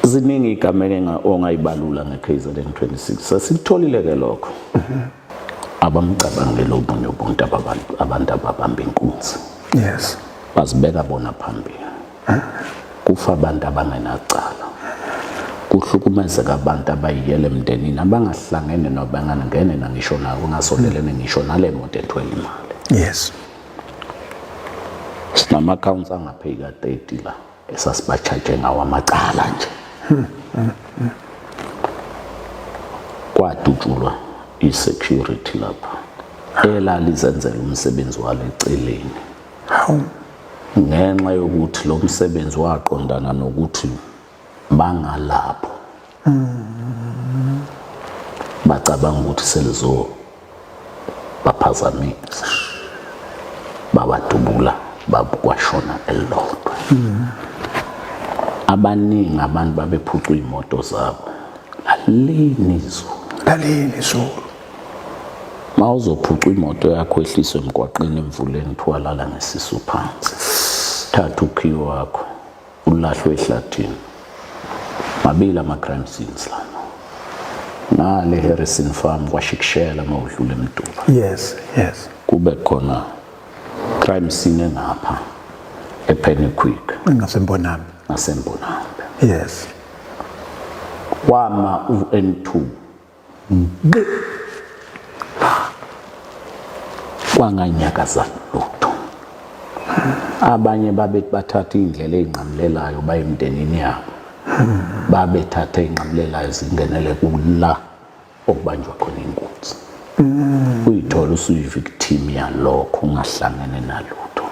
ziningi igameke ongayibalula ngeKZN 26 sasitholile ke lokho abamcabangele obunye ubuntu abantu ababamba inkunzi yes bazibeka bona phambili kufa abantu abangenacala kuhlukumezeka abantu abayiyele emndenini abangahlangene nabangangene nangisho nawo ungasondelene ngisho nale moto ethwele imali yes sinama-accounts angapheyika 30 la esasibatshaje ngawo amacala nje hmm, hmm, hmm. kwadutshulwa i-security lapho elalizenzela umsebenzi walo eceleni ngenxa yokuthi lo msebenzi waqondana nokuthi bangalapho bacabanga ukuthi selizo baphazamisa babadubula bakwashona elilodwa mm. abaningi abantu babephucwa iy'moto zabo lalini izulu lalini izulu ma uzophuca imoto yakho ehliswe emgwaqeni emvuleni kuthiwa lala ngesisu phansi thatha ukhiyo wakho ulahlwe ehlathini mabili ama-crime scenes lana ngale Harrison Farm kwashikishela mawudlula emduba yes yes kube khona crime scene engapha ePenny Quick engasembonami ngasembonami yes wama u-N2 kwanganyakaza lutho abanye babethi bathatha iy'ndlela ey'nqamulelayo baye emndenini yabo babethatha ey'nqamulelayo zingenele kula okubanjwa khona inkunzi uyithola usuyi-victim yalokho ungahlangene nalutho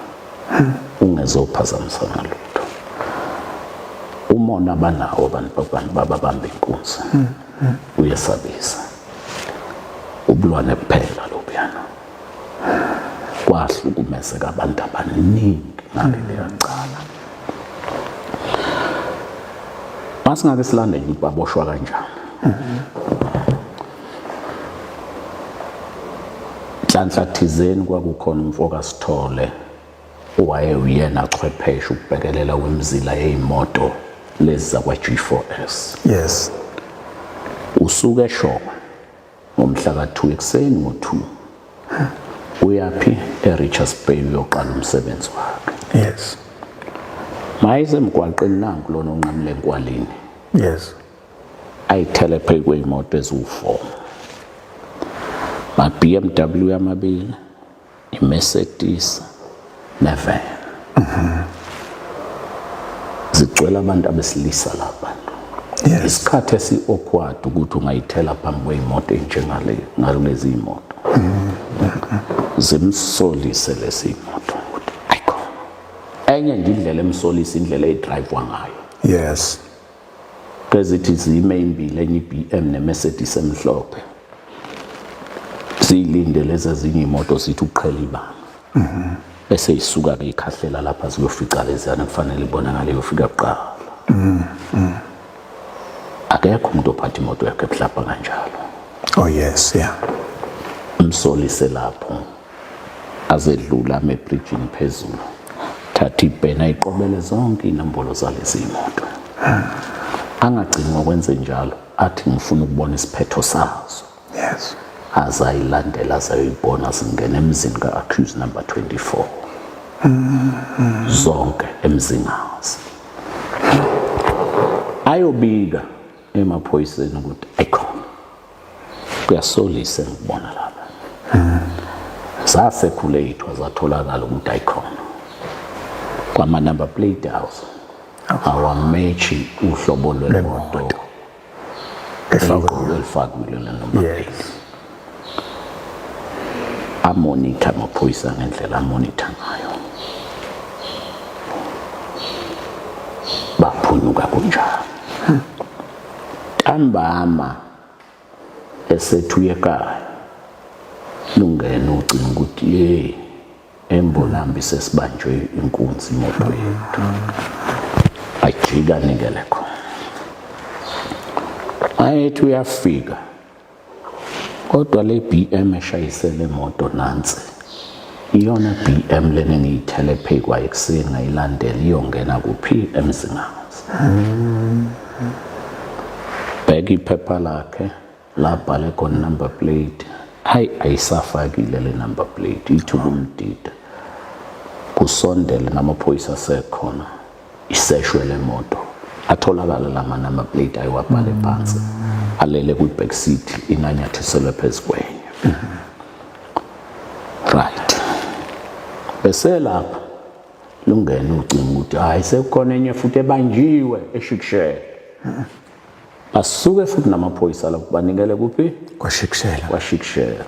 ungezophazamisa nalutho umona abanawo abantu babamba inkunzi uyesabisa ubulwane kuphela lobuyana kwahlukumezeka abantu abaningi ngaleliya cala masingake silandele ukuthi baboshwa kanjani nhlanhla thizeni kwakukhona umfoka sithole owayewuyena chwepheshe ukubhekelela wemzila yeyimoto lezi zakwa G4S yes usuke eshoma ngomhla ka2 ekuseni ngo2 uyaphi eRichards Bay uyoqala umsebenzi wakhe yes mayise emgwaqeni nanku lona onqamule enkwalini yes ayithele phezu kweyimoto eziwu4 ma BMW amabili iMercedes nevan mhm. zigcwele abantu abesilisa lapha yes. isikhathi esi-awkward ukuthi ungayithela phambi kweyimoto enjengale ngalezi imoto mhm. zimsolise lesi imoto ukuthi ayikhona enye nje indlela emsolisa indlela edrive ngayo yes Ezithi zime ezimbili enye iBM neMercedes emhlophe. Siyilinde lezi ezinye imoto sithi uqhela ibanga. Mhm. Bese isuka ke ikhahlela lapha ziyofica lezana kufanele ibonakale yofika kuqala. Mhm. mhm. Akekho umuntu ophatha imoto yakhe ebuhlapha kanjalo. Oh yes, yeah. Umsolise lapho. azedlula amebrijini phezulu thatha ibhena iqobele zonke inombolo zalezi moto angagcini ngokwenze njalo athi ngifuna ukubona isiphetho sazo yes azayilandela azayoyibona zingena emzini ka-accuse number 24 zonke emzingazi ayobika emaphoyiseni ukuthi ayikhona kuyasolisa ngikubona lapha zasekhulethwa zatholakala ukuthi ayikhona kwama-number plate house awameshi uhlobo lwemoto elifakile lelo number plate amonitha amaphoyisa ngendlela amonitha ngayo baphunyuka kunjalo ntambama esethu yekaya lungena ucinga ukuthi ye embolambi sesibanjwe inkunzi imoto yethu ajika nikele khona ayethi uyafika kodwa le BM eshayisele moto nansi iyona BM lena engiyithele phezu kwayo ekuseni ngayilandela iyongena kuphi emzingazi bheka iphepha lakhe labhale khona number plate hayi ayisafakile le number plate ithuba umdida kusondele namaphoyisa asekhona iseshwe le moto atholakala la manamba plate ayiwabhale phansi alele kwi-back seat inanyathiselwe phezu kwenye right bese lapha lungena ucinga ukuthi hayi sekukhona enye futhi ebanjiwe eshikishela basuke futhi namaphoyisa lapho banikele kuphi kwashikishela kwashikishela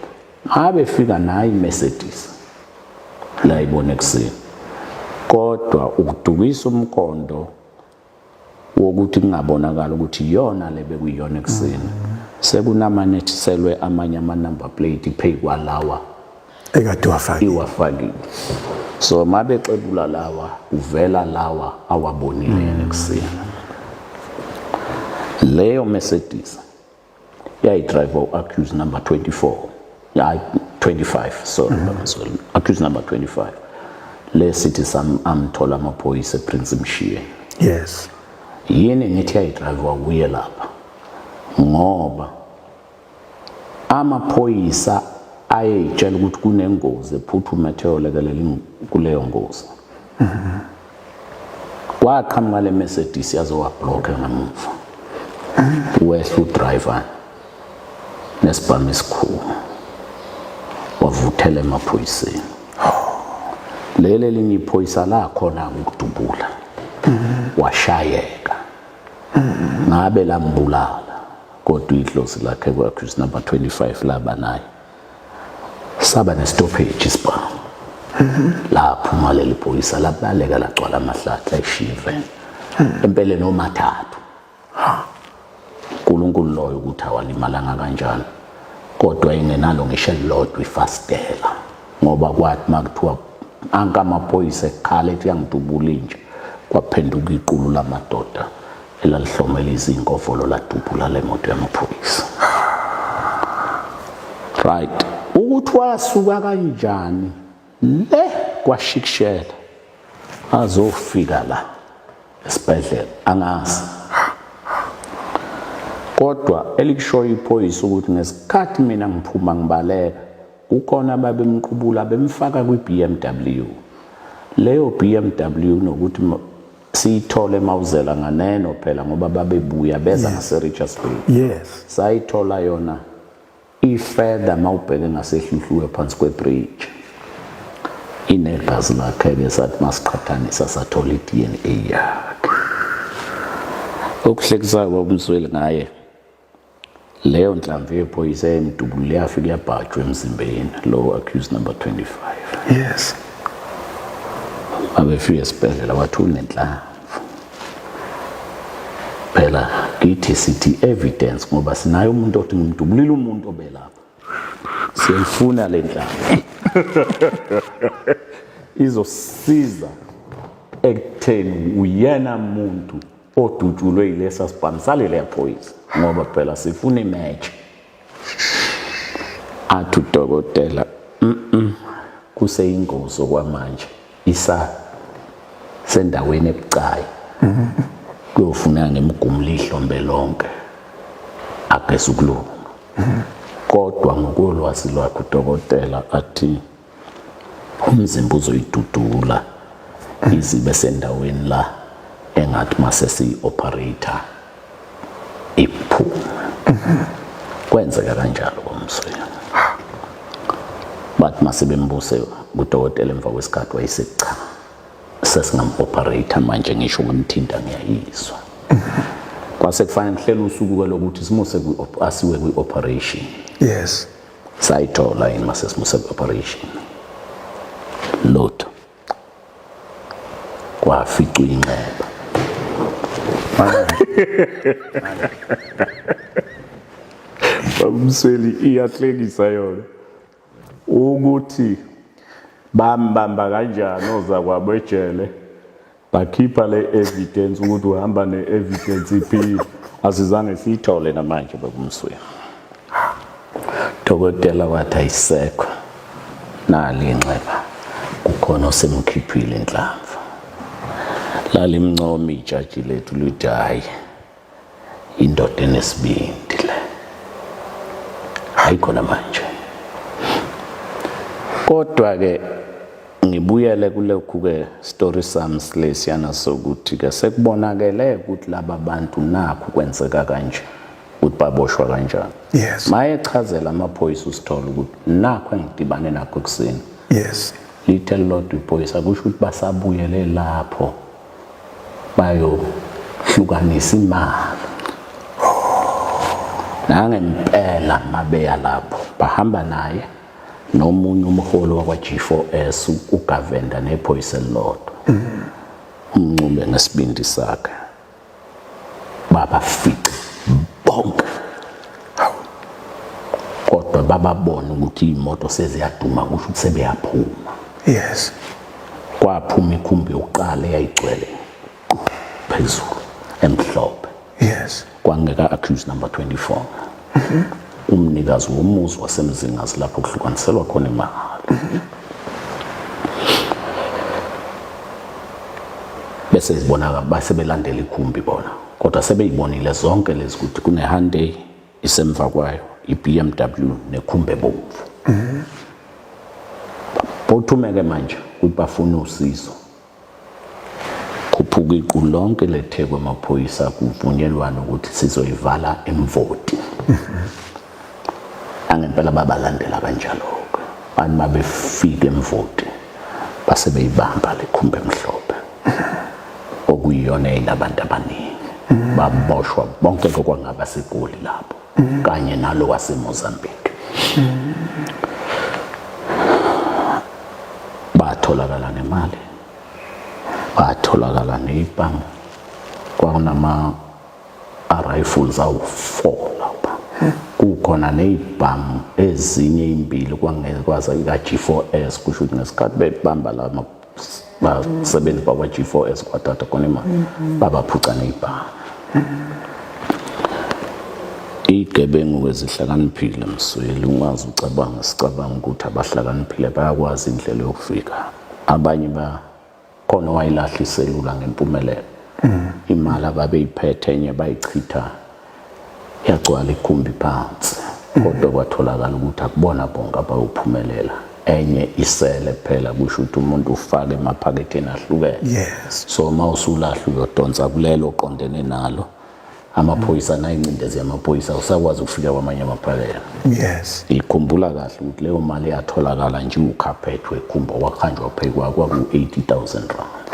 abefika nayo iMercedes la ibona ekuseni kodwa ukudukisa umkondo wokuthi kungabonakala ukuthi iyona le bekuyiyona ekuseni sekunamanethiselwe amanye ama-number plate phezu kwalawa ekade wafakile iwafakile so uma bexebula lawa uvela lawa awabonile mm. ekuseni leyo mercedes yayidrive u-accuse number 24 hayi 25 sorry mm -hmm. sorry accuse number 25 le city sam amthola amaphoyisa eprince mshiye yes yini ngithi yayidrive wakuye lapha ngoba amaphoyisa ayeyitshela ukuthi kunengozi ephuthume ethe yolekelela kuleyo ngozi mm -hmm. Kwaqhamuka le Mercedes yaze wablocker ngemuva. Wehla udriver nesibhamu esikhulu. Wavuthela emaphoyiseni. Leli elinye iphoyisa lakhona ukudubula. Washayeka. Ngabe lambulala kodwa idlozi lakhe kwakhona number 25 laba naye. saba nestoppage isibhamu laphuma leli phoyisa labaleka lagcwala amahlathi layishiya iveni empeleni omathathu uNkulunkulu loyo ukuthi awalimalanga kanjani kodwa ingenalo ngisho elilodwa ifastela ngoba kwathi makuthiwa ankamaphoyisa ekhala ethi yangidubula inja kwaphenduka iqulu lamadoda elalihlomela izinkovolo ladubula le moto yamaphoyisa right ukuthi wasuka kanjani le kwashikishela azofika la esibhedlela angazi kodwa elikushoyo iphoyisa ukuthi ngesikhathi mina ngiphuma ngibaleka kukhona babemqubula bemfaka kwi-BMW leyo BMW nokuthi siyithole mawuzela nganeno phela ngoba babebuya beza yes. ngaseRichards Bay yes sayithola yona ifurther mawubheke ngasehluhluwe phansi kwebridge inegazi lakhe-ke sathi masiqhathanisa sathola i-dna yakhe okuhlekisayo babumsweli ngaye leyo nhlamvu yephoyisa yayimdubulile yafike yabhajwa emzimbeni lowo accused number 25 yes abefika esibhedlela wathi unenhlanvu phela kithi sithi evidence ngoba sinayo umuntu othi ngimdubulile umuntu obelapha siyayifuna le nhlanvu izosiza ekutheni uyena muntu odutshulwe yilesa sibhamu salele yaphoyisa ngoba phela sifuna imatch athi udokotela mm kuseyingozi okwamanje isa sendaweni ebucayi kuyofuna ngemgumula ihlombe lonke ageza ukulunga kodwa ngokolwazi lwakhe udokotela athi umzimba uzoyidudula izibe sendaweni la engathi mase siyi-operator iphuma kwenzeka kanjalo komsoya bathi mase bembuse kudokotela emva kwesikhathi wayesethi cha sesingam-operator manje ngisho ngimthinta ngiyayizwa kwase kufanele kuhlele usuku-ke lokuthi simuse asiwe kwi-operation yes sayithola yini masesimusa operation lutho kwaficwa inxeba babumsweli iyahlekisa yona ukuthi bambamba kanjani ozakwabo ejele Bakhipha le evidence ukuthi uhamba ne evidence iphili. Asizange siyithole namanje bakumswini. Dokotela wathi ayisekho. Nali inxeba. Kukhona osemkhiphile inhlamvu. Lalimncoma ijaji lethu lithi hayi. Indoda enesibindi le. Hayi khona manje. Kodwa ke ngibuyele kulokhu ke story sami silesiyana sokuthi ke sekubonakele ukuthi laba bantu nakho kwenzeka kanje ukuthi baboshwa kanjani yes maye chazela amaphoyisa usithola ukuthi nakho engidibane nakho ekuseni yes lithe lodwa iphoyisa kusho ukuthi basabuyele lapho bayohlukanisa imali nangempela mabeya lapho bahamba naye nomunye umholi wakwa-G4S uGavenda nephoyisa elilodwa umncube ngesibindi sakhe babafice bonke kodwa bababona ukuthi iy'moto seziyaduma kusho ukuthi sebeyaphuma yes kwaphuma ikhumbi yokuqala eyayigcwele phezulu emhlophe yes kwangeka accuse number 24 umnikazi womuzi wasemzingazi lapho kuhlukaniselwa khona imali bese zibona base belandela ikhumbi bona kodwa sebeyibonile zonke lezi ukuthi kuneHyundai isemva kwayo iBMW nekhumbi ebomvu bothumeke manje ukuthi bafuna usizo Khuphuka iqulu lonke leTheku amaphoyisa kuvunyelwana ukuthi sizoyivala imvoti. Angempela babalandela kanjalo-ke. Abantu uma befika emvoti base beyibamba le khumba emhlophe okuyiyona eyinabantu abaningi baboshwa bonke kokwangaba segoli lapho kanye nalo waseMozambique batholakala nemali batholakala neyibhamu kwakunama rifles awu-four lapha kukhona neyibhamu ezinye imbili kwangekwaza ika-g4s kusho ukuthi ngesikhathi bebamba la basebenzi bakwa G4S kwaTata konema mm-hmm. babaphuca ngebhanga igebengu kwezihlakaniphile msweli ungazi ucabanga sicabanga ukuthi abahlakaniphile bayakwazi indlela yokufika abanye ba khona wayilahla iselula ngempumelelo mm. imali ababeyiphethe enye bayichitha Yagcwala igumbi phansi kodwa kwatholakala ukuthi akubona bonke abayophumelela enye isele kuphela kusho ukuthi umuntu ufake emaphaketheni ahlukene yes. so uma usulahla uyodonsa kulelo oqondene nalo amaphoyisa mm. nayincindezi yamaphoyisa usakwazi ukufika kwamanye amaphakela yes ikhumbula kahle ukuthi leyo mali yatholakala nje ukhaphethu ekhumba wakhanjwa phekwa kwaku-80 000 rand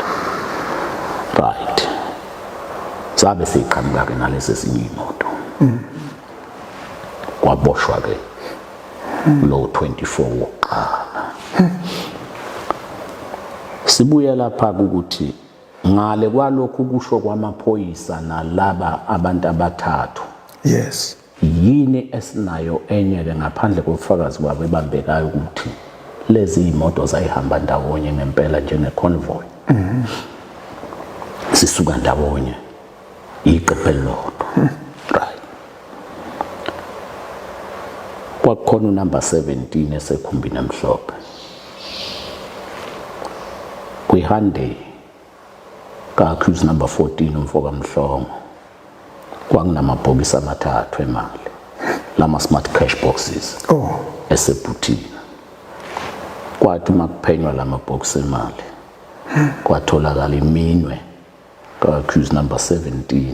right sabe siqhamuka ke nalesi sinye imoto mm. kwaboshwa ke lo 24 wokuqala sibuye lapha ukuthi ngale kwalokhu kusho kwamaphoyisa nalaba abantu abathathu yes Yini esinayo enye-ke ngaphandle kobufakazi babo ebambekayo ukuthi lezi iy'moto zayihamba ndawonye ngempela njenge-convoy mm-hmm. sisuka ndawonye iqephe elilodwa right kwakukhona unumber 17 esekhumbini emhlophe kwi-hyundai Ka-accused number 14 umfokamhlongo kwakunamabhokisi amathathu emali lama-smart cash boxes oh. esebhuthini kwathi uma kuphenywa la mabhokisi emali kwatholakala iminwe ka-accused number 17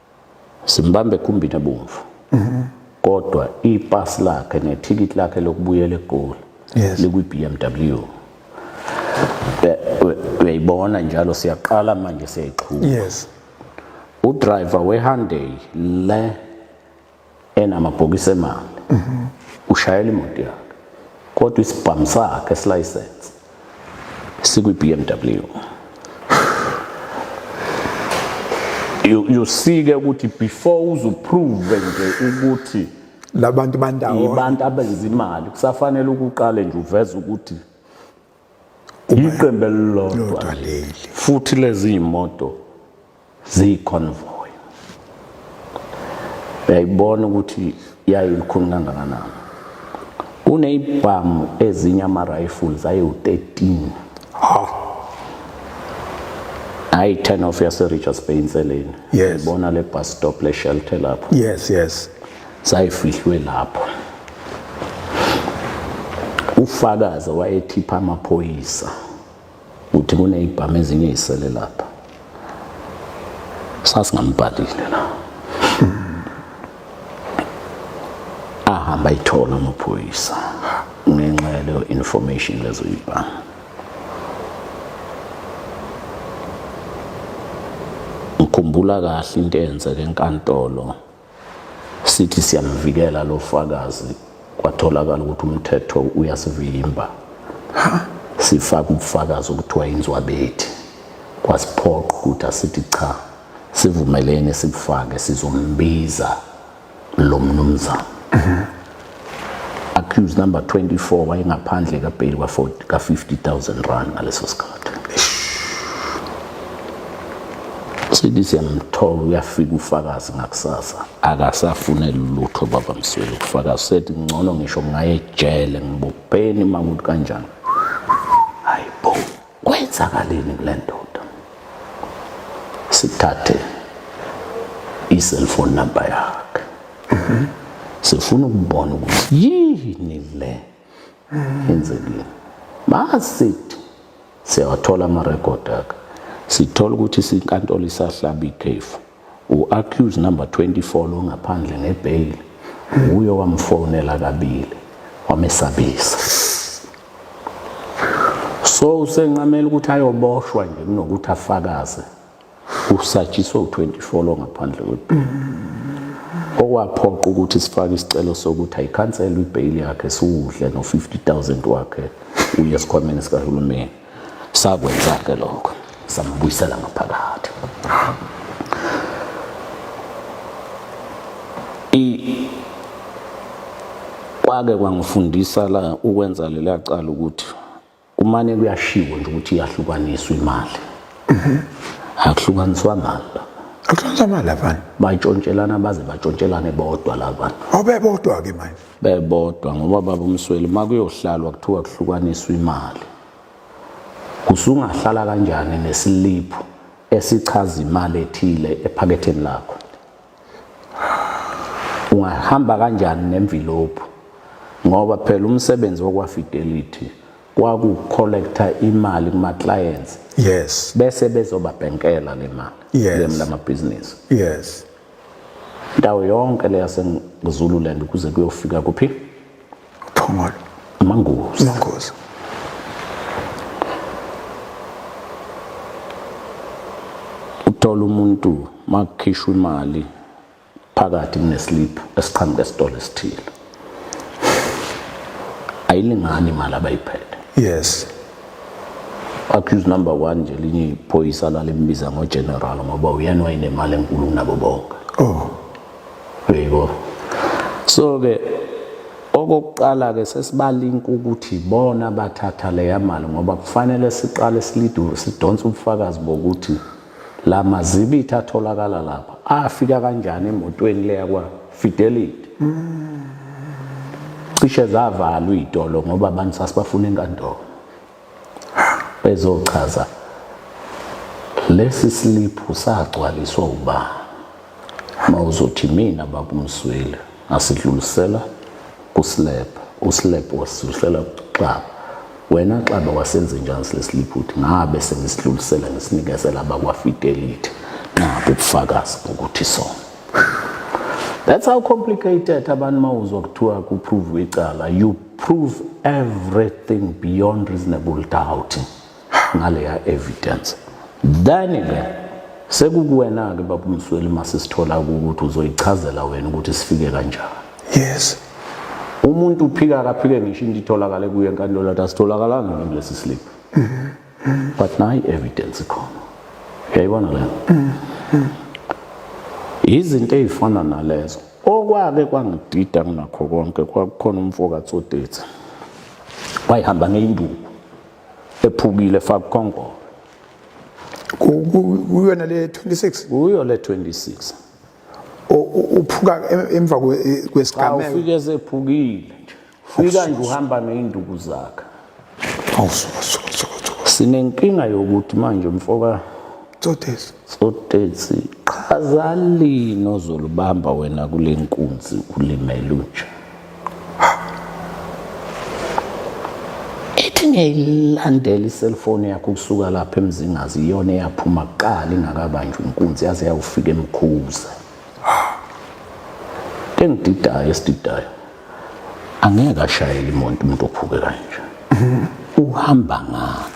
simbambe ekhumbini ebomvu mhm. kodwa ipass lakhe nethikithi lakhe lokubuyela egoli likwi-BMW uyayibona njalo siyaqala manje siyayiqhuba yes udriver weHyundai le enamabhokisi emali ushayela imoto yakhe kodwa isibhamu sakhe esilayisense sikwi-BMW yosike ukuthi before uzuprove nje ukuthi labantu bandawo abantu abenza imali kusafanele ukuqale nje uveze ukuthi iqembu elilodwa leli futhi lezi imoto ziyiconvoy uyayibona ukuthi yayo likhulu kangakanani kuneyibhamu ezinye ama-rifles ayewu-13 ha hayi i-turn off yaserichards bay inseleni yes. ibona le bus stop le-shelter lapho yes yes Sayifihlwe lapho. Ufakazi wayethipha amaphoyisa ukuthi kunezibhamu ezinye ezisele lapha. Sasingambhalile la. Ahamba ithola amaphoyisa ngenxa yaleyo information lezo zibhamu. Ngikhumbula kahle into eyenzeke enkantolo. Sithi siyamvikela lo fakazi kwatholakala ukuthi umthetho uyasivimba. Sifaka ubufakazi okuthiwa inzwabethi kwasiphoqa ukuthi asithi cha sivumeleni sibufake sizombiza lo mnumzane. accused number 24 wayengaphandle kabheli ka-50000 rand ngaleso sikhathi sithi siyamthola uyafika ufakazi ngakusasa akasafune lutho baba msweli ukufakazi sethi ngcono ngisho ngaye ejele ngibopheni uma kuthi kanjani Kwenzakaleni kule ndoda? Sithathe i-cellphone number yakhe. Mhm. Sifuna ukubona ukuthi yini le enzekile. Masithi siyawathola ama-record akhe. Sithola ukuthi sinkantolo isahlaba ikhefu. U-accused number 24 lo ngaphandle ngebheyili wuye owamfonela kabili wamesabisa so usenqamela ukuthi ayoboshwa nje kunokuthi afakaze usatshiswe u-24 lo ngaphandle kwebheyili okwaphoqa ukuthi sifake isicelo sokuthi ayikhanselwe ibheyili yakhe siwudle no-50 000 wakhe uye esikhwameni sikahulumeni sakwenza ke lokho sambuyisela ngaphakathi i kwake kwangifundisa la ukwenza lela cala ukuthi kumane kuyashiwo nje ukuthi iyahlukaniswa imali mhm. akuhlukaniswa mali Akusonzamali abanye. Bayitshontselana baze batshontshelane bodwa labana. Awubebodwa ke manje. bebodwa ngoba baba umsweli uma kuyohlalwa kuthiwa kuhlukaniswa imali usungahlala kanjani nesiliphu esichaza imali ethile ephaketheni lakho ungahamba kanjani nemvilophu ngoba phela umsebenzi wokwafidelity kwakucollector imali kuma clients yes bese bezobabhenkela le mali yes. lemla mabhizinisi yes ndawo yonke le yasezululand kuze kuyofika kuphi phongolo mangozi mangozi uthola umuntu makukhishwa imali phakathi kuneslip esiqhamuka esitolo esithile ayilingani imali abayiphethe yes accuse number 1 nje linye iphoyisa lalimbiza ngo general ngoba uyena wayenemali enkulu kunabo bonke oh yebo so ke okokuqala ke sesibalinka ukuthi bona bathatha leya mali ngoba kufanele siqale silidure sidonse ubufakazi bokuthi La mazibitha atholakala lapha afika kanjani emotweni leya kwa Fidelity? Cishe zavalwa izitolo ngoba abantu sasibafuna enkantolo. Bezochaza lesi sliphu sagcwaliswa ubani. Uma uzothi mina baba umsweli asidlulisela kuslab uslab wasidlulisela kuxaba wena xaba wasenze njani silesiliphutha ngabe sengisidlulisela ngisinikezela abakwafidelity nabo ubufakazi bokuthi sona that's how complicated abantu mawuzwa kuthiwa kuprove icala you prove everything beyond reasonable doubt ngaleya evidence then ke sekukuwena ke baba umsweli masisithola ukuthi uzoyichazela wena ukuthi sifike kanjani yes umuntu uphika akaphike ngisho into itholakale kuye enkantolo athi asitholakalanga kulesi slip mm-hmm. but nayi evidence ikhona uyayibona le mm-hmm. izinto ezifana nalezo okwake kwangidida kunakho konke kwakukhona umfoka Tsotetsi wayihamba ngeyinduku ephukile faka kongolo kuyona le 26 kuyo le 26 uphuka emva kwesigameko ufike esephukile fika nje uhamba neinduku zakhe awusuka suka suka sinenkinga yokuthi manje mfoka Tsotes. Sotetsi chaza lini ozolubamba wena kule nkunzi ulimele unje. Ethi ngiyayilandela iselfoni yakho kusuka lapha emzingazi iyona eyaphuma kuqala ingakabanjwa inkunzi yaze yawufika emkhuza. Engididayo esididayo angeke ashayele imoto umuntu ophuke kanje. Uhamba ngani?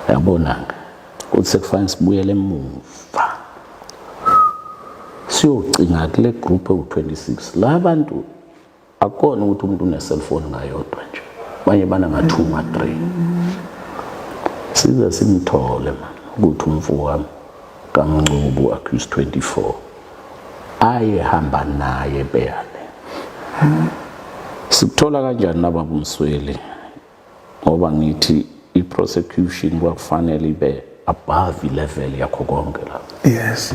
yabonanga ukuthi sekufanele sibuyele emuva siyocinga kule group ewu-26 la bantu akukona ukuthi umuntu une-cellphone ngayodwa nje abanye bana nga-two ma-three size simthole ma ukuthi umfo wami kamncubu accuse 24 ayehamba naye beyale sikuthola kanjani nababumsweli ngoba ngithi i-prosecution kwakufanele ibe above level yakho konke la yes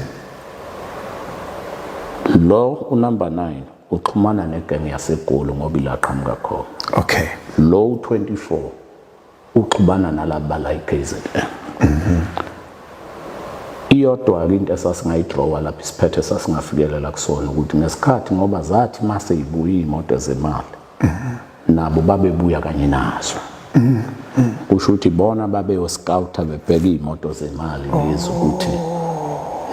lo unumber 9 uxhumana negenge yasegolo ngoba ilaqhamuka khona okay lo u24 uxhumana nalaba la iKZN mhm iyodwa ke into esasingayidrawa lapha isiphethe sasingafikelela kusona ukuthi ngesikhathi ngoba zathi mase ibuye imoto zemali nabo babebuya kanye nazo kusho ukuthi bona babeyoscouta bebheka iy'moto zemali lezi ukuthi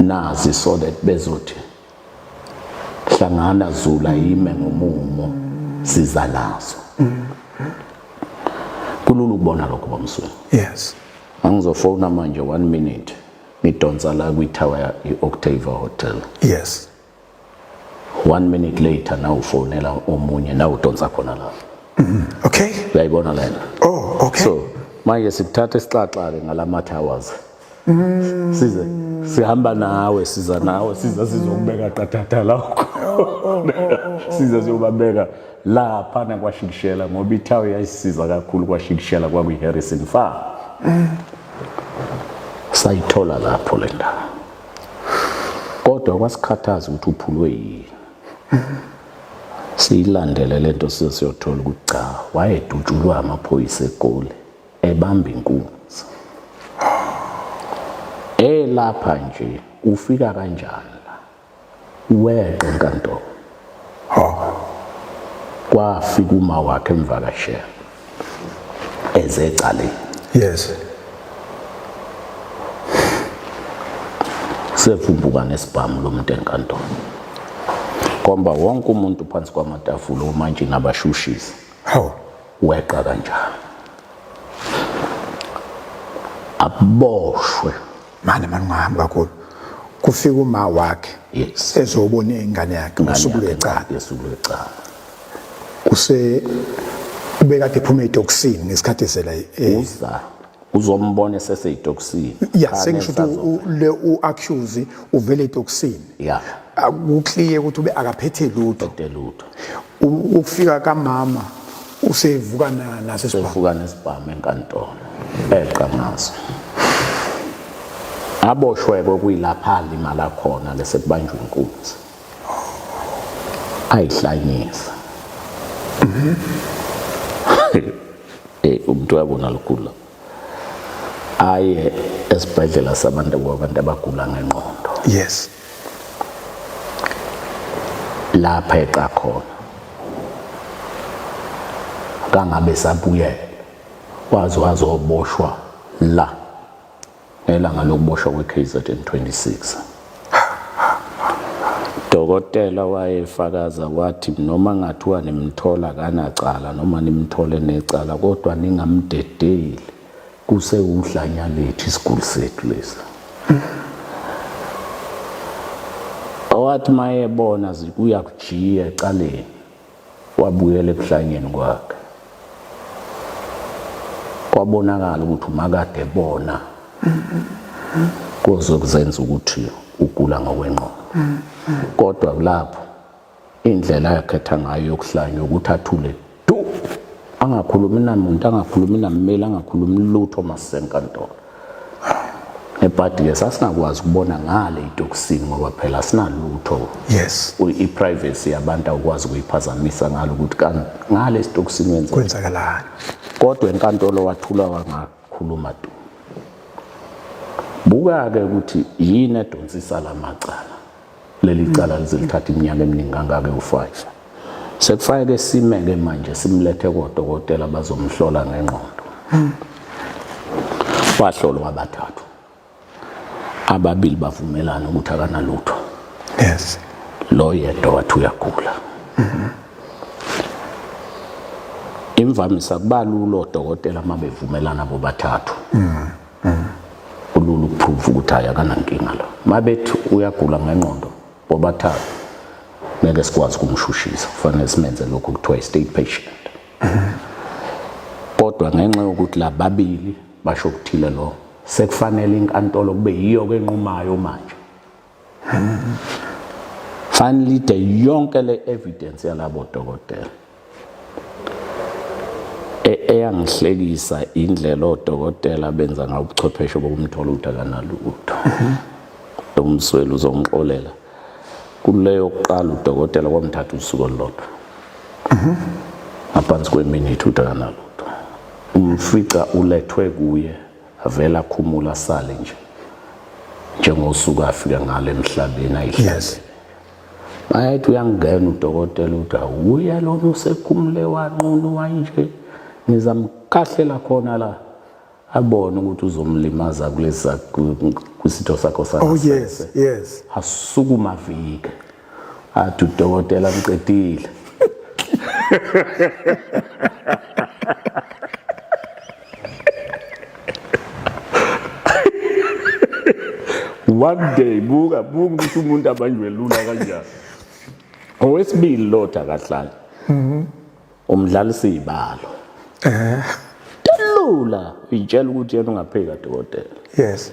nazi so that bezothi hlangana zula yime ngomumo siza nazo kulula ukubona lokho bamsweni yes angizofona manje one minute ngidonsa la kwithawa i-octava hotel yes one minute later nawe ufonela omunye nawe udonsa khona la okay uyayibona lena oh okay so manje sikuthatha isixaxa-ke ngalama towers mm. size sihamba nawe siza nawe siza sizokubeka qathatha lakho oh, oh, oh, siza siyobabeka lapha nakwashikishela ngoba ithawe yayisiza kakhulu kwashikishela kwakwi-harrison farm mm. sayithola lapho le ndawo kodwa kwasikhathaza ukuthi uphulwe yini siyilandele le nto size siyothola ukuthi cha wayedutshulwa amaphoyisa egoli ebamba inkunzi elapha nje ufika kanjani Weqa enkantolo. Ha. Kwafika uma wakhe emvakashela. Ezecaleni. Yes. Sevumbuka nesibhamu lomuntu enkantolo. Komba wonke umuntu phansi kwamatafula omantshi nabashushisi. Hawu. Weqa kanjalo. Aboshwe. mane mani ungahambi kakhulu kufika uma wakhe yes. ezobona ingane yakhe usuku lwecala usuku lwecala use ubekade ephuma etoksini ngesikhathi esela eh, uza uzombona eseseyitoksini ya sengisho ukuthi le uaccuse uvele etoksini ya ukukliye ukuthi ube akaphethe lutho lutho ukufika kamama usevuka naso isibhamu uvuka nesibhamu enkantolo eqa ngaso aboshwe kokuyilapha alimala khona ke sekubanjwa inkunzi ayihlanyisa mhm. eh umuntu yabona likhulu lapho aye esibhedlela sabantu kwabantu abagula ngenqondo yes lapha eqa khona kangabe sabuyela waze wazoboshwa la ngelanga lokuboshwa kweKZN 26. Dokotela wayefakaza wathi noma ngathiwa nimthola kanacala noma nimthole necala kodwa ningamdedeli kusewudlanya lethu isiguli sethu lesi. Owathi mayebona zikuya kujiya ecaleni wabuyela ebuhlanyeni kwakhe kwabonakala ukuthi umakade ebona kozokuzenza ukuthi ugula ngokwenqondo kodwa kulapho indlela yakhetha ngayo yokuhlanya ukuthi athule du angakhulumi namuntu angakhulumi nammeli angakhulumi lutho masenkantolo ebhadi ke sasingakwazi ukubona ngale itokisini ngoba phela asinalutho yes i-privacy yabantu awukwazi ukuyiphazamisa ngalo ukuthi ngale isitokisini wenza kwenzakalani kodwa enkantolo wathula wangakhuluma tu buka-ke ukuthi yini edonsisa la macala leli cala lize lithatha iminyaka eminingi kangaka ewufayisa sekufanele sime-ke manje simlethe kodokotela bazomhlola ngengqondo wahlolwa abathathu ababili bavumelana ukuthi akanalutho yes lo yedwa wathi uyagula imvamisa kuba lulo odokotela uma bevumelana bobathathu mm. mm. ulula ukuprove ukuthi hayi akanankinga la mabethi uyagula ngenqondo bobathathu ngeke sikwazi ukumshushisa kufanele simenze lokhu kuthiwa i-state patient mm. kodwa ngenxa yokuthi la babili basho okuthile lo sekufanele inkantolo kube yiyo ke enqumayo manje finally de yonke le evidence yalabo dokotela e, eyangihlekisa indlela odokotela benza ngayo ubuchwepheshe bokumthola ukuthi akanalutho umsweli uzongixolela kuleyo kuqala udokotela kwamthatha usuku olulodwa ngaphansi kweminithi ukuthi akanalutho umfica ulethwe kuye avele akhumula asale nje njengosuku afika ngalo emhlabeni ayihlazele bayethi uyangena udokotela uthi awuye lona usekhumule wanqunu wanje ngizamkahlela khona la abone ukuthi uzomlimaza kulesa kwisitho sakho sakhe oh yes yes asukuma vike athi udokotela mqedile one day buka buka ukuthi umuntu abanjwe lula kanjani owesibili lo dakahlala mhm. umdlali sibalo eh lula itshela ukuthi yena ungaphika dokotela yes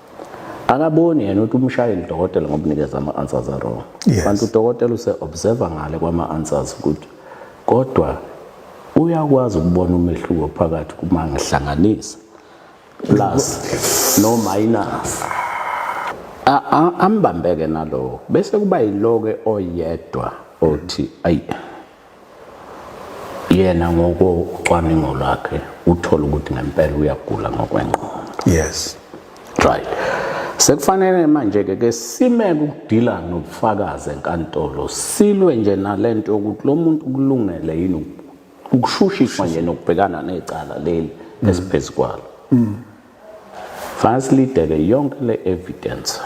akaboni yena ukuthi umshayeli dokotela ngoba unikeza ama-answers awrong yes. kanti udokotela use-observa ngale kwama-answers ukuthi kodwa uyakwazi ukubona umehluko phakathi kuma ngihlanganisa plus no minus ambambeke nalowo bese kuba yiloke oyedwa othi ayi yena ngokocwaningo lwakhe uthole ukuthi ngempela uyagula ngokwengqondo yes right sekufanele manje-ke ke simeke ukudila nobufakazi enkantolo silwe nje nalento yokuthi lo muntu kulungele yini ukushushiswa nje nokubhekana necala leli esiphezu kwalo mm. Fast lidele yonke le evidence.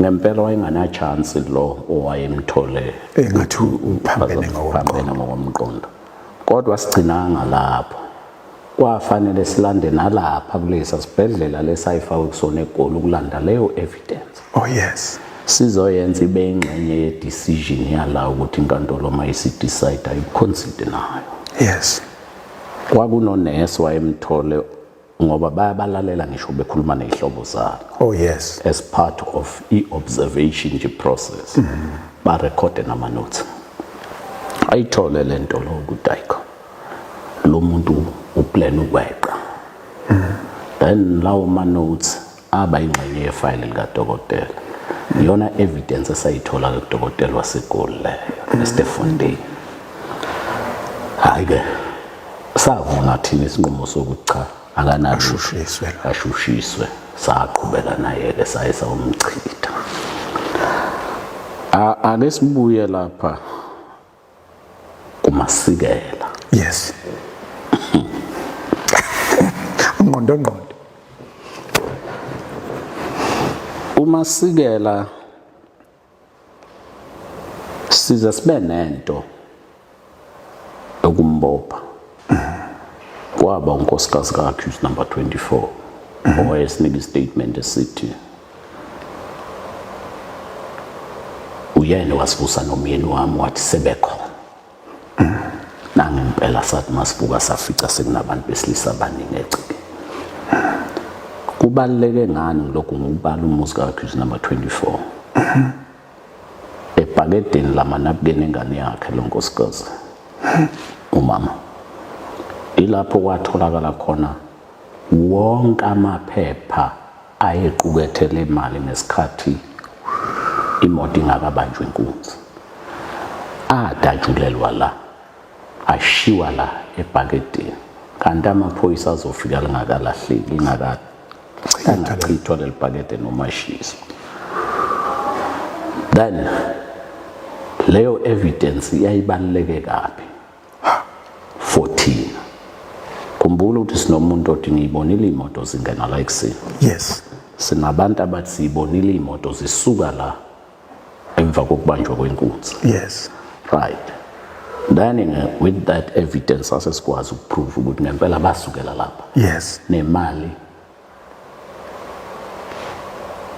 Ngempela wayengana chance lo owayemthole engathi uphambene ngokomqondo. Kodwa sigcinanga lapho. Kwafanele silande nalapha kulesa sibhedlela lesayifakwe kusona egoli ukulanda leyo evidence. Oh yes. Sizoyenza ibe ingxenye ye decision yala ukuthi inkantolo uma isidecide ayiconsider nayo. Yes. kwakunonesi wayemthole ngoba bayabalalela ngisho bekhuluma nezihlobo zabo oh yes as part of i-observation nje process mm -hmm. barekhode namanothi ayithole le nto lo ukuthi ayikho lo muntu uplan ukweqa mm -hmm. then lawo manothi aba ingxenye yefayile likadokotela iyona evidence esayithola ke kudokotela waseGoli leyo eStefontein hayi ke savuna thina isinqumo sokuthi cha akanashushiswe ashushiswe saqhubeka naye ke saye sawumchitha ake sibuye lapha kumasikela yes ungqondo ngqondo umasikela size sibe nento okumbopha kwaba unkosikazi kakhe number 24 owayesinika istatement esithi uyena wasibusa nomyeni wami wathi sebekhona nangempela sathi masibuka safica sekunabantu besilisa abaningi egcike kubaluleke ngani lokhu ngokubala umuzi kakhristu number 24 ebhakedeni lamanabukeni engane yakhe lo nkosikazi umama ilapho kwatholakala khona wonke amaphepha ayequkethe le mali ngesikhathi imoto ingakabanjwa inkunzi adatshulelwa la ashiwa la ebhakedeni kanti amaphoyisa azofika lingakalahleki lingakachithwa leli bhakede noma shiso then leyo evidence yayibaluleke kabi 14 khumbula ukuthi sinomuntu othi ngiyibonile imoto zingena la ekuseni yes sinabantu abathi siyibonile imoto zisuka la emva kokubanjwa kwenkunzi yes right then with that evidence asesikwazi ukuprove ukuthi ngempela basukela lapha yes nemali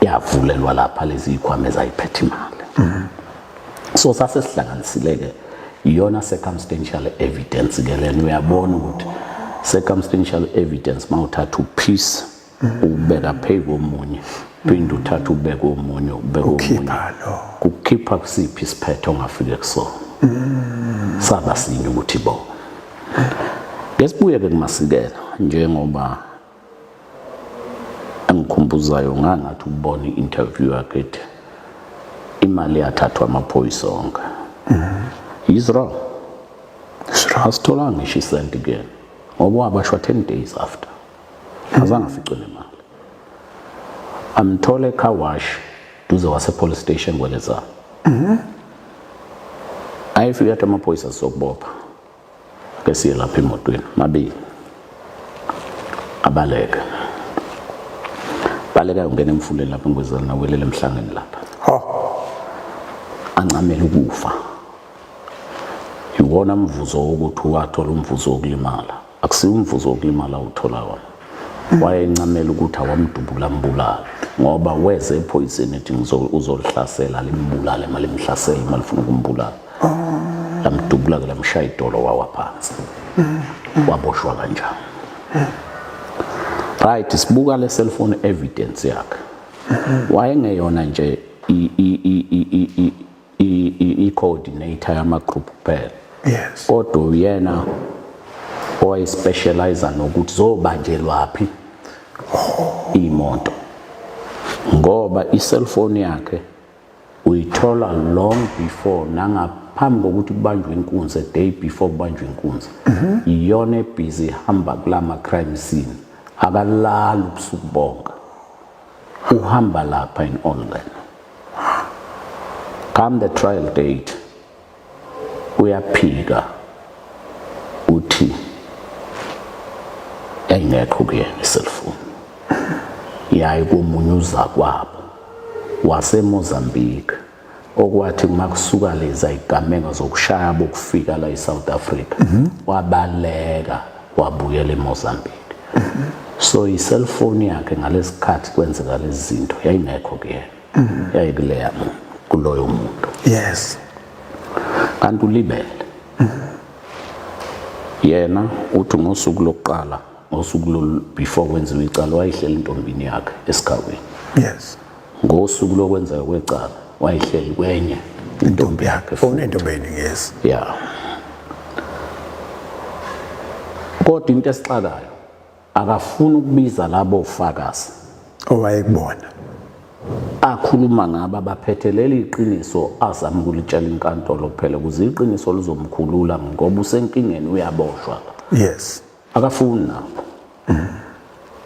yavulelwa lapha lezi ikhwama ezayiphethe imali mhm. so sase sihlanganisileke iyona circumstantial evidence ke lena uyabona ukuthi circumstantial evidence mawuthatha upiece mhm. ubeka phezu komunye phinde uthatha ubeke omunye ubeke omunye kukhipha kusiphi isiphetho ongafike kusona mhm. saba sinye ukuthi bo ngesibuye ke kumasikela njengoba engikhumbuzayo ngangathi ukubona i-interview yakhe ethi imali yathathwa amaphoyisa onke he's wrong asitholanga ngisho isenti kuyena ngoba wabashwa 10 days after azange aficwe nemali amthole car wash duze wasepolice station kwelezana ayefika athi amaphoyisa sokubopha ke siye lapha emotweni mabili abaleke baleka ungena emfuleni lapha ngwezela nawelele emhlangeni lapha ancamela ukufa iwona mvuzo wokuthi wathola umvuzo wokulimala akusiwo umvuzo wokulimala uthola wona hmm. wayencamela ukuthi awamdubula mbulala ngoba weze ephoyiseni ethi uzolihlasela limbulale malimhlasele malifuna ukumbulala lamdubula ke lamshaya idolo wawa phansi waboshwa kanjani right sibuka le cellphone evidence yakhe wayengeyona nje i-coordinator yama-group kuphela yes kodwa uyena owayespecializa nokuthi zobanjelwaphi imoto ngoba i-cellphone yakhe uyithola long before nangaphambi kokuthi kubanjwe inkunzi a day before kubanjwe inkunzi mhm. iyona ebhizi ihamba kula ma-crime scene akalali ubusuku bonke uhamba lapha in online come the trial date uyaphika uthi engekho kuyena iselfoni yayi komunye uzakwabo wasemozambique okwathi uma kusuka leza igameko zokushaya bokufika la e-south africa mhm. wabaleka wabuyela emozambique mhm. so iselfoni yakhe ngalesikhathi kwenzeka lezi zinto yayingekho kuyena mm. yayikuleya kuloyo muntu yes kanti ulibele mm. yena uthi ngosuku lokuqala ngosuku lo before kwenziwe icala wayihleli intombini yakhe esigabeni yes ngosuku lokwenza kwecala wayihleli kwenye intombi yakhe fona oh, intombeni yes yeah kodwa into esixakayo akafuni ukubiza labo fakazi owayekubona akhuluma ngaba baphethe leli iqiniso azama ukulitshela inkantolo kuphela ukuze iqiniso lizomkhulula ngoba usenkingeni uyaboshwa yes akafuni nabo mm.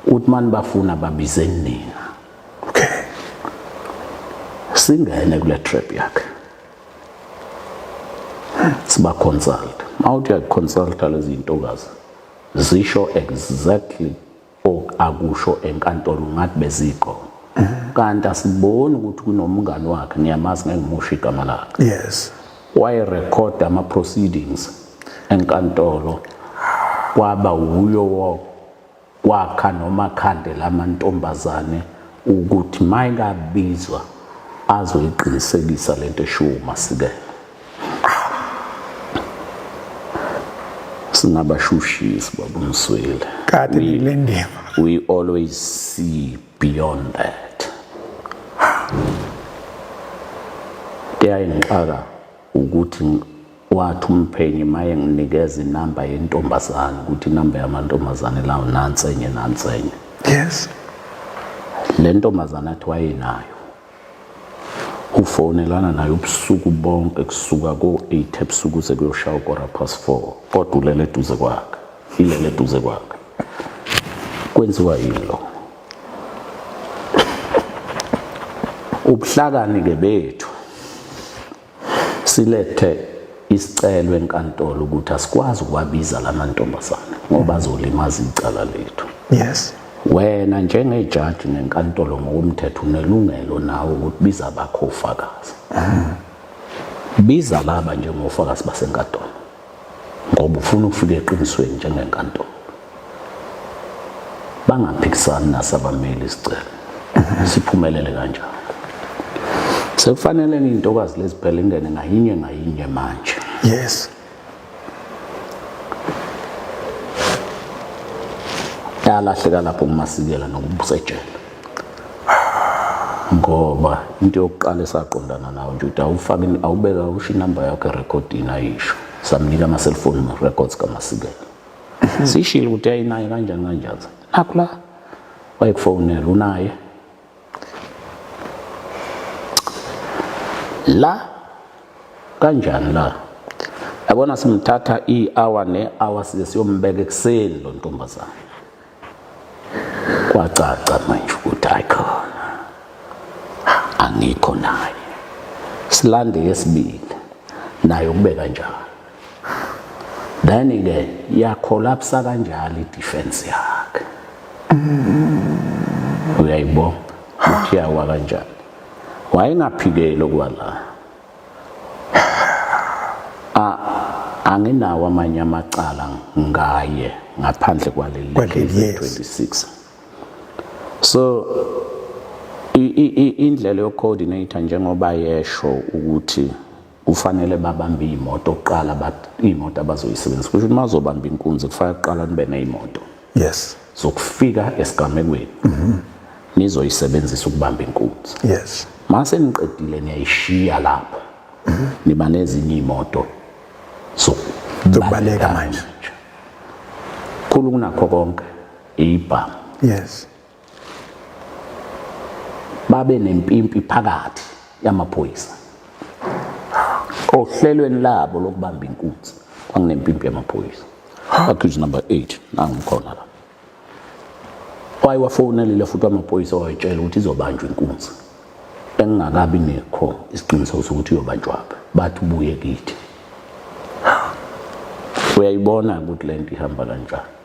uthi mani bafuna babize nina okay singene kule trap yakhe siba consult mawuthi uyakuconsulta lezi ntokazi Zisho exactly ok akusho enkantolo ngathi beziqoma. Kanti asiboni ukuthi kunomngani wakhe ngiyamazi ngeke ngimusho igama lakhe. Yes. Waye record ama proceedings enkantolo kwaba wuyo wo kwakha noma khande lamantombazane ukuthi mayingabizwa azoyiqinisekisa lento eshiwo uMasikela. singabashushisi baba Msweli kade le ndima we always see beyond that kuyayingixaka ukuthi wathi umphenyi maye nginikeza inamba yentombazane ukuthi inamba yamantombazane lawo nansenye nansenye yes le ntombazane athi wayenayo ufonelana naye ubusuku bonke kusuka ko-8 ebusuku kuze kuyoshaya ukora past 4 kodwa ulele eduze kwakhe ilele eduze kwakhe kwenziwa yini lo ubuhlakani-ke bethu Silethe isicelo enkantolo ukuthi asikwazi ukuwabiza lamantombazane ngoba azolimaza icala lethu. Yes. Wena njengejaji nenkantolo ngokomthetho unelungelo nawe ukuthi biza abakho ofakazi. Biza laba njengofakazi basenkantolo. ngoba ufuna ukufika eqinisweni njengenkantolo bangaphikisani nasabameli isicelo siphumelele kanjalo sekufanele intokazi leziphela ingene ngayinye ngayinye manje yes yalahleka lapho kumasikela nokubusa ejele ngoba into yokuqala esaqondana nawo nje ukuthi awufake awubeka usho inamba yakho erekhodini ayisho samnika ama-cellphone records kamasikela mhm. sishile ukuthi ayinaye kanjani kanjani nakho la wayekufonela unaye la kanjani la yabona simthatha i-hour ne-hour size siyombeka ekuseni lo ntombazane Kwacaca manje ukuthi ayikhona angikho naye silande yesibili naye ukubeka njalo then ke yakholapsa kanjalo idefense yakhe uyayibona ukuthi yawa kanjani wayengaphikeli ukuba la anginawo amanye amacala ngaye ngaphandle kwaleli 26 so indlela yokucoordinate njengoba yesho ukuthi kufanele babambe imoto kuqala imoto abazoyisebenzisa kusho ukuthi mazobamba inkunzi kufanele kuqala nibe nezimoto yes zokufika esigamekweni mhm nizoyisebenzisa ukubamba inkunzi yes mase niqedile niyayishiya lapho mhm. niba nezinye imoto so zokubaleka manje khulu kunakho konke ibhamu yes babe nempimpi phakathi yamaphoyisa ohlelweni labo lokubamba inkunzi kwanginempimpi yamaphoyisa accuse number 8 nangikhona la wayewafonelile futhi amaphoyisa wayetshela ukuthi izobanjwa inkunzi engingakabi nekho isiqiniseko sokuthi iyobanjwaphi bathi ubuye kithi uyayibona ukuthi le nto ihamba kanjani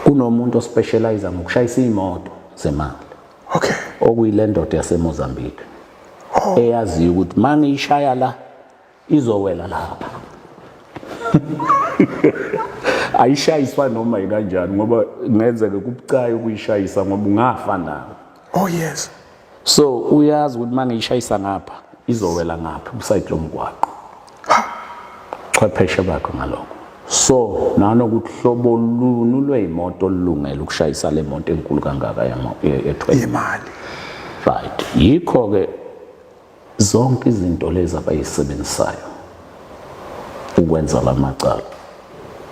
kunomuntu ospecialize ngokushayisa imoto zemali okay okuyilendoda yaseMozambique oh. eyaziyo ukuthi mangiyishaya la izowela lapha ayishayiswa noma yikanjani ngoba ngenzeke kubucayi ukuyishayisa ngoba ungafa nayo oh yes so uyazi ukuthi uma ngiyishayisa ngapha izowela ngapha usayidi lomgwaqo chwepheshe bakho ngaloko so nanokuthi hlobo lunu lweyimoto olulungele ukushayisa le moto enkulu kangaka yethwele imali right yikho-ke Zonke izinto lezi abayisebenzisayo ukwenza la macala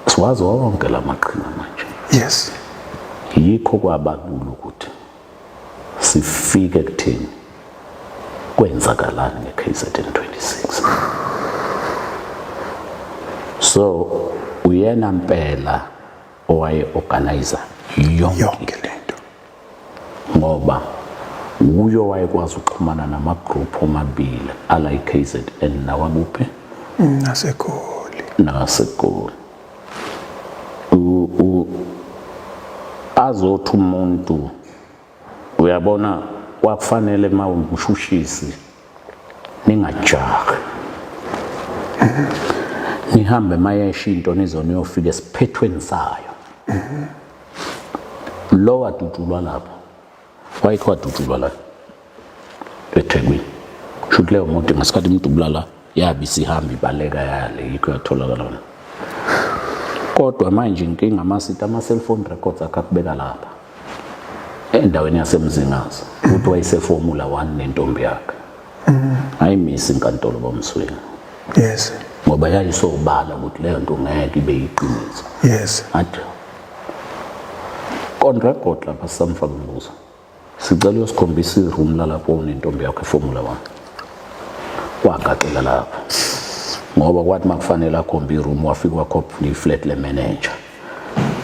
siwazi wonke la maqhinga manje. Yes. Yikho kwabalula ukuthi sifike kuthini kwenzakalani ngeKZN 26. So uyena mpela owaye organizer yonke le ngoba wuye owayekwazi ukuxhumana namagroup omabili ala i-KZN nawakuphi naseGoli naseGoli azothi umuntu uyabona kwakufanele uma umshushisi ningajahi nihambe mayesha into nizona uyofika esiphethweni sayo lo wadutshulwa lapho wayekho wadutshulwa la ethekwini shuthi leyo moto ngesikhathi imdubula la yabe isihamba ibaleka yale yikho yatholakala wona kodwa manje inkinga amasita ama-cellphone records akhe akubeka lapha endaweni yasemzingazi uthi wayeseformula 1 nentombi yakhe mm. ayimisi inkantolo bomswini yes ngoba yayisobala ukuthi leyo nto ngeke ibe yiqiniso yes athi kontra kodwa basamfa kumbuzo sicela uyosikhombisa iroom lalapho unentombi yakho eformula 1 kwagaxela lapho ngoba kwathi makufanele akhombe iroom wafika wakhopha iflat le manager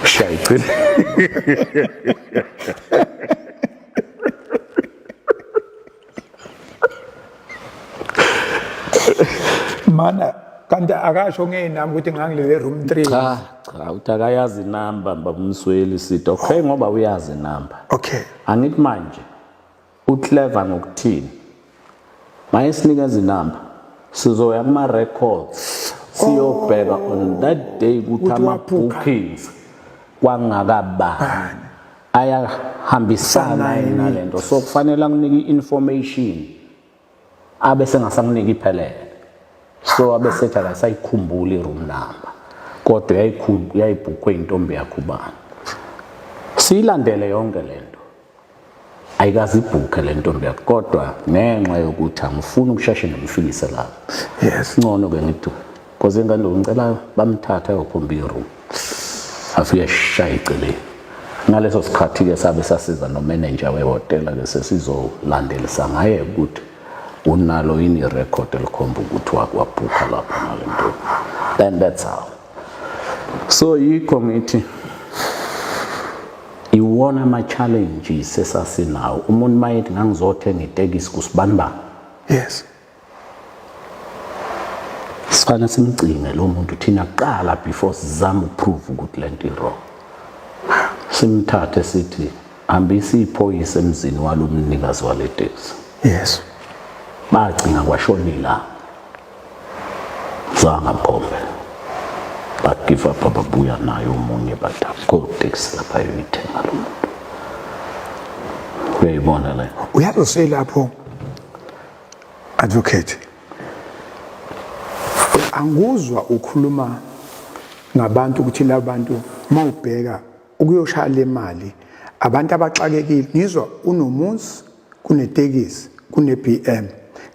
Shayicini. Mana kanti akasho ngeyinami ukuthi ngangilele room 3. Cha, cha uthi akayazi inamba babumsweli sithi okay ngoba uyazi inamba. Okay. Angithi manje Uclever ngokuthini? Mayesinika izinamba sizoya kuma records siyobheka oh. on that day ukuthi ama bookings kwangakabani ayahambisana nalento so kufanele anginike information abe sengasamniki iphelele so abe sethi akasayikhumbuli i-room number kodwa yayibhukhwe intombi yakho ubani siyilandele yonke le nto ayikazibhukhe le ntombi yakho kodwa ngenxa yokuthi angifuni ukusheshe ngimfikise lapho yes ngcono-ke ngithi Cause ingane ngicela bamthathe ayophumba iroom. Afike shaye iceleni. Ngaleso sikhathi ke sabe sasiza no manager wehotela ke sesizolandelisa ngaye ukuthi unalo yini record elikhomba ukuthi wakwabhukha lapha nalento. And that's how. So yikho ngithi iwona ama challenges esasinawo. Umuntu mayethi ngangizothenga itekisi kusibanibani. Yes. sifana simgcine lo muntu thina kuqala before sizama ukuprove ukuthi lento iwrong simthathe sithi hambisa iphoyisa emzini walo mnikazi wale taxi yes bagcina kwashona ilanga zanga mkhombe bagive up ababuya naye omunye batakoteksi lapha yoyithenga lo muntu uyayibona le uyazi lapho Advocate anguzwa ukhuluma ngabantu ukuthi labantu mawubheka ukuyoshaya le mali abantu abaxakekile ngizwa unomuzi kunetekisi kune-BM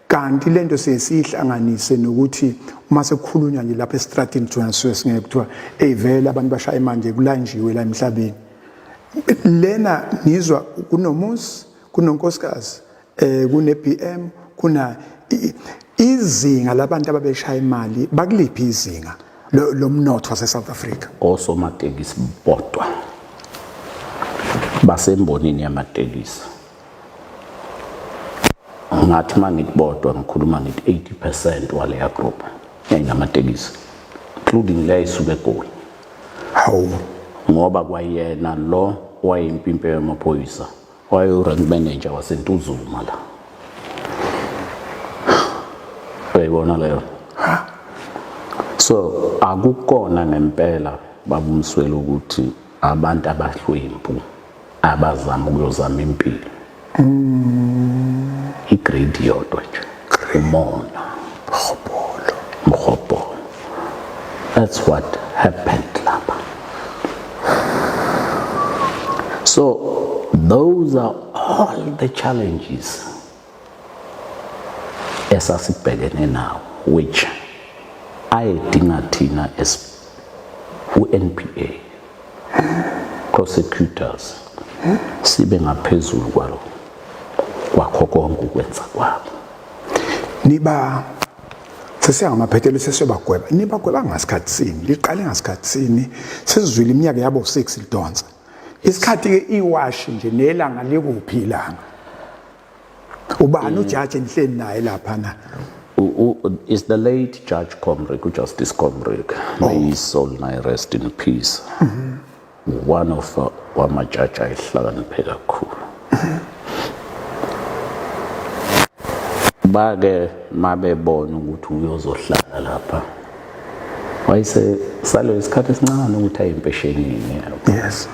kanti le nto siye siyihlanganise nokuthi uma sekukhulunywa nje lapha esitratini jona suke singeke kuthiwa eyi vele abantu bashaya imanje kulanjiwe la emhlabeni lena ngizwa kunomuzi kunonkosikazi eh kune BM kuna izinga labantu ababeshaya imali bakuliphi izinga lomnotho wase South Africa osomatekisi bodwa basembonini yamatekisi ngathi mangithi bodwa ngikhuluma ngithi 80% waleya group yayinamatekisi including leyo isuke egoli hawu ngoba kwayena lo wayimpimpe yamaphoyisa wayewu-rank manager wasentuzuma la uyayibona leyo so akukona ngempela babumswele ukuthi abantu abahlwempu abazama ukuyozama impilo mm. i-grade yodwa nje Cremona, Mhobolo, Mhobolo. That's what happened lapha. So those are all the challenges esasibhekene nawo which ayedinga thina as u-NPA prosecutors sibe ngaphezulu kwalo kwakho konke ukwenza kwabo niba sesiyangamaphethelo sesiyobagweba nibagweba ngasikhathi sini liqale ngasikhathi sini sesizwile iminyaka yabo 6 lidonsa isikhathi-ke iwashi nje nelanga likuphi ilanga ubani ujaji endihleli naye lapha na is the late judge comrick ujustice comrick may oh. his soul nay rest in peace mm -hmm. one of uh, wamajaji ayihlakaniphe kakhulu bake mabebona ukuthi uyozohlala lapha wayese salo isikhathi esincane ukuthi aye empeshenini yes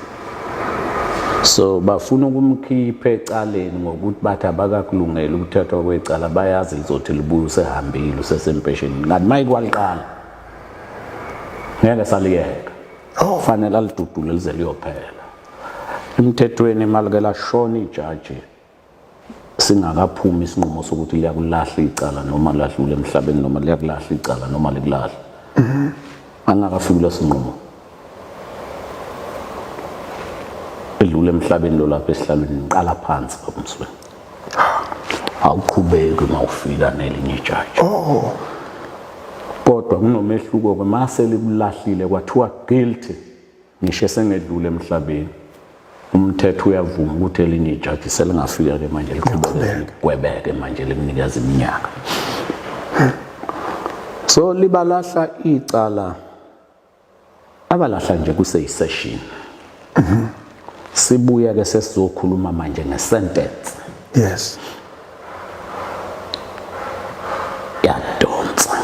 so bafuna ukumkhipha ecaleni ngokuthi bathi abakakulungela ukuthathwa kwecala bayazi lizothi libuye usehambile usesempesheni ngathi maye kwaliqala ngeke saliyeka oh. fanele alidudule lize liyophela emthethweni imali ke lashona ijaji singakaphumi isinqumo sokuthi liyakulahla icala noma ladlula emhlabeni noma liyakulahla icala noma likulahla angakafiki kula sinqumo edlule emhlabeni lo lapha esihlalweni ngiqala phansi babumsweni awuqhubeki uma ufika nelinye ijaji oh kodwa kunomehluko ke mase likulahlile kwathiwa guilty Ngisho esengedlule emhlabeni umthetho uyavuma ukuthi elinye ijaji selingafika ke manje liqhubeke manje limnikeza iminyaka so libalahla icala abalahla nje kuseyisession sibuya ke sesizokhuluma manje ngesentence yes yadonsa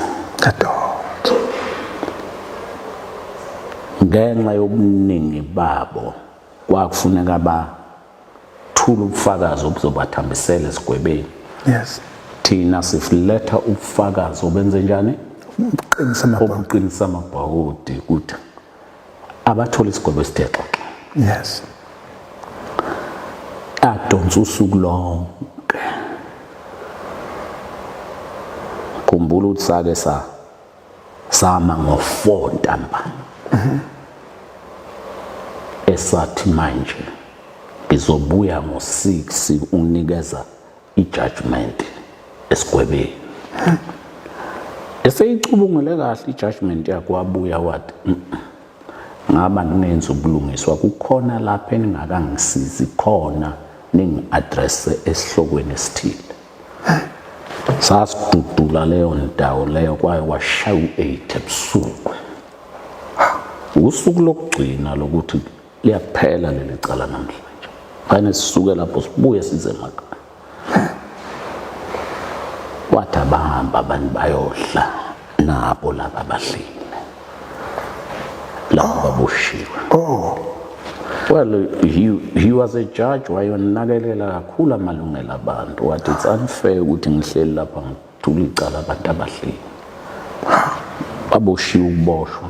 yadonsa ngenxa yobuningi babo kwakufuneka bathula ubufakazi obuzobathambisela esigwebeni yes thina sifuletha ubufakazi obenze njani obuqinisa amabhawodi ukuthi abathole isigwebo esithe xoxa yes adonsa usuku lonke khumbula ukuthi sake sa sama ngo-4 ntambama mhm. esathi manje ngizobuya ngo-6 unikeza ijudgment esigwebeni eseyicubungule kahle ijudgment yakhe wabuya wathi ngaba ngingenza ubulungiswa kukhona lapho eningakangisizi khona ningi-adresse esihlokweni esithile sasidudula leyo ndawo leyo kwaye washaya u-eight ebusuku usuku lokugcina lokuthi liyaphela leli cala namhlanje kane sisuke lapho sibuye size emakhaya wathi abahamba abantu bayodla nabo laba abahlile laba baboshiwe oh well he, he was a judge wayonakelela kakhulu amalungelo abantu wathi it's unfair ukuthi ngihleli lapha ngithula icala abantu abahleli baboshiwe ukuboshwa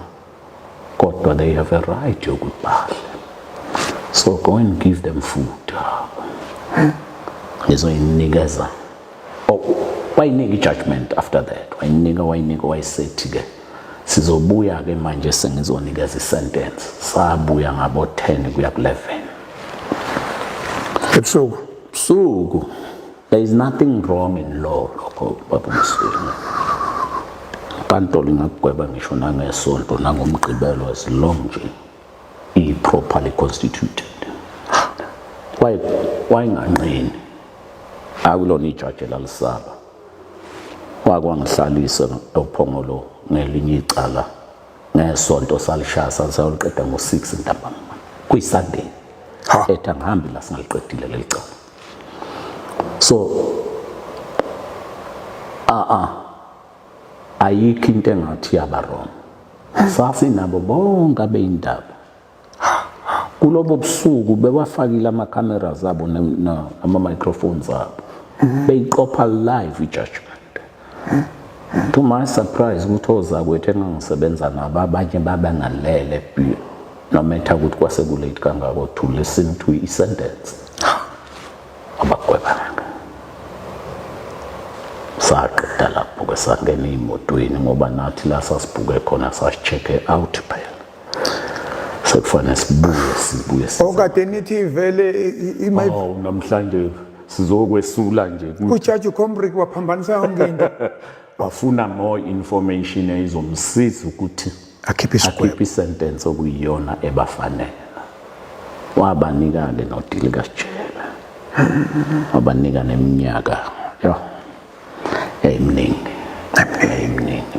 kodwa they have a right yokuthi bahle so go and give them food ngizoyinikeza oh, wayinika i-judgment after that wayinika wayinika wayisethi ke sizobuya ke manje sengizonikeza i-sentence sabuya ngabo-10 kuya ku-11 ebusuku busuku There is nothing wrong in law lokho baba Msweli. Inkantolo ingakugweba ngisho nangesonto nangomgqibelo as long nje iyi properly constituted. Why why nganqeni? Akulona ijaji lalisaba. Wakwangihlalisa ophongolo ngelinye icala ngesonto salishaya saliqeda ngo6 ntambama. Kuyi Sunday. Etha ngihambi la singaliqedile lelicala. so a ah, a ah, ayikho into engathi yaba wrong safi nabo bonke abeyindaba kulobo busuku bewafakile ama cameras abo nama microphones abo beyiqopha live i judgment to my surprise ukuthi ozakwethu engangisebenza nabo abanye baba nalele blue no matter ukuthi kwase kulate kangako to listen to i sentence abagwebanga saqeda lapho ke sangena emotweni ngoba nathi la sasibhuke khona sasisheke out phela sekufanele sibuye sibuye okade nithi vele oh, namhlanje sizokwesula nje ukuthi ujaji ucombrick waphambanisa yonke into wafuna more information eyizomsiza ukuthi akhiphe isigwebo akhiphe isentence okuyiyona ebafanele wabanika-ke nodili kasijela wabanika neminyaka yo yayiminingi yayiminingi